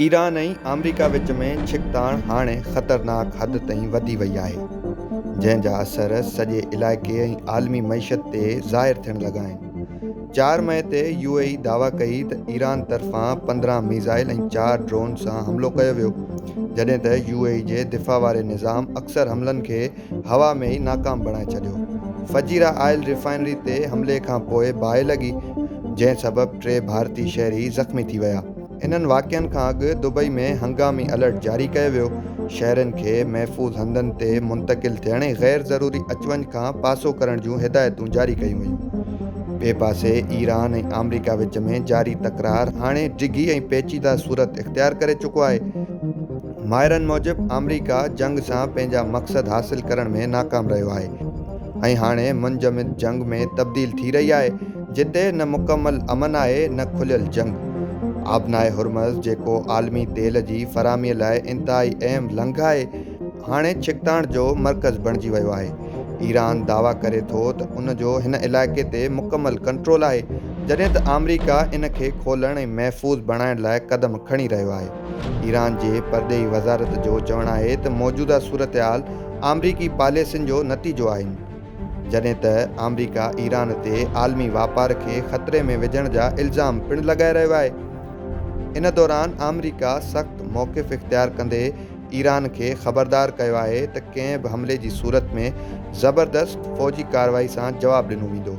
Iran ۽ America وچ ۾ ڇڪتاڻ هاڻي خطرناڪ حد تائين وڌي وئي آهي، جنهن جا اثر سڄي علائقي ۽ عالمي معيشت تي ظاهر ٿيڻ لڳا آهن. چار مئي تي يو اي اي دعويٰ ڪئي ته ايران طرفان پندرهن ميزائل ۽ چار ڊرون سان حملو ڪيو ويو، جڏهن ته يو اي اي جي دفاع واري نظام اڪثر حملن کي هوا ۾ ئي ناڪام بڻائي ڇڏيو. فجيرا آئل ريفائنري تي حملي کانپوء باهه لڳي، جنهن سبب ٽي ڀارتي شهري زخمي ٿي ويا. انهن واقعن کان اڳ دبئي ۾ هنگامي الرٽ جاري ڪيو ويو، شهرين کي محفوظ هنڌن تي منتقل ٿيڻ ۽ غير ضروري اچ وڃ کان پاسو ڪرڻ جون هدايتون جاري ڪيون ويون. ٻئي پاسي ايران ۽ آمريڪا وچ ۾ جاري تڪرار هاڻي ڊگهي ۽ پيچيده صورت اختيار ڪري چڪو آهي. ماهرن موجب آمريڪا جنگ سان پنهنجا مقصد حاصل ڪرڻ ۾ ناڪام رهيو آهي ۽ هاڻي منجمد جنگ ۾ تبديل ٿي رهي آهي، جتي نه مڪمل امن آهي نه کليل جنگ. آبنائي هرمز جيڪو عالمي تيل جي فراهمي لاء انتهائي اهم لنگهه آهي، هاڻي ڇڪتاڻ جو مرڪز بڻجي ويو آهي. ايران دعويٰ ڪري ٿو ته ان جو هن علائقي تي مڪمل ڪنٽرول آهي، جڏهن ته آمريڪا ان کي کولڻ ۽ محفوظ بڻائڻ لاء قدم کڻي رهيو آهي. ايران جي پرڏيهي وزارت جو چوڻ آهي ته موجوده صورتحال آمريڪي پاليسين جو نتيجو آهن. جڏهن ته آمريڪا ايران تي عالمي واپار کي خطري ۾ وجهڻ جا الزام پڻ لڳائي رهيو آهي. ان دوران آمريڪا سخت موقف اختيار ڪندي ايران کي خبردار ڪيو آهي ته ڪنهن به حملي جي صورت ۾ زبردست فوجي ڪارروائي سان جواب ڏنو ويندو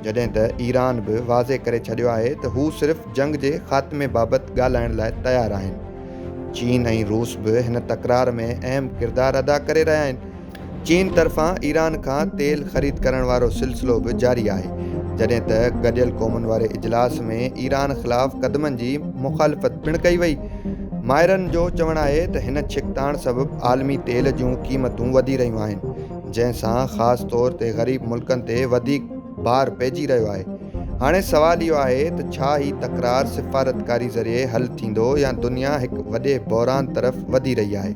جڏهن ته ايران به واضح ڪري ڇڏيو آهي ته هو صرف جنگ جي خاتمي بابت ڳالهائڻ لاء تيار آهن. چين ۽ روس به هن تڪرار ۾ اهم ڪردار ادا ڪري رهيا آهن. چين طرفان ايران کان تيل خريد ڪرڻ وارو سلسلو به جاري آهي، جڏهن ته گڏيل قومن واري اجلاس ۾ ايران خلاف قدمن جي مخالفت پڻ ڪئي وئي. ماهرن جو چوڻ آهي ته هن ڇڪتاڻ سبب عالمي تيل جون قيمتون وڌي رهيون آهن، جنهن سان خاص طور تي غريب ملڪن تي وڌيڪ بار پئجي رهيو آهي. هاڻي سوال اهو آهي ته ڇا هي تڪرار سفارتڪاري ذريعي حل ٿيندو يا دنيا هڪ وڏي بحران طرف وڌي رهي آهي؟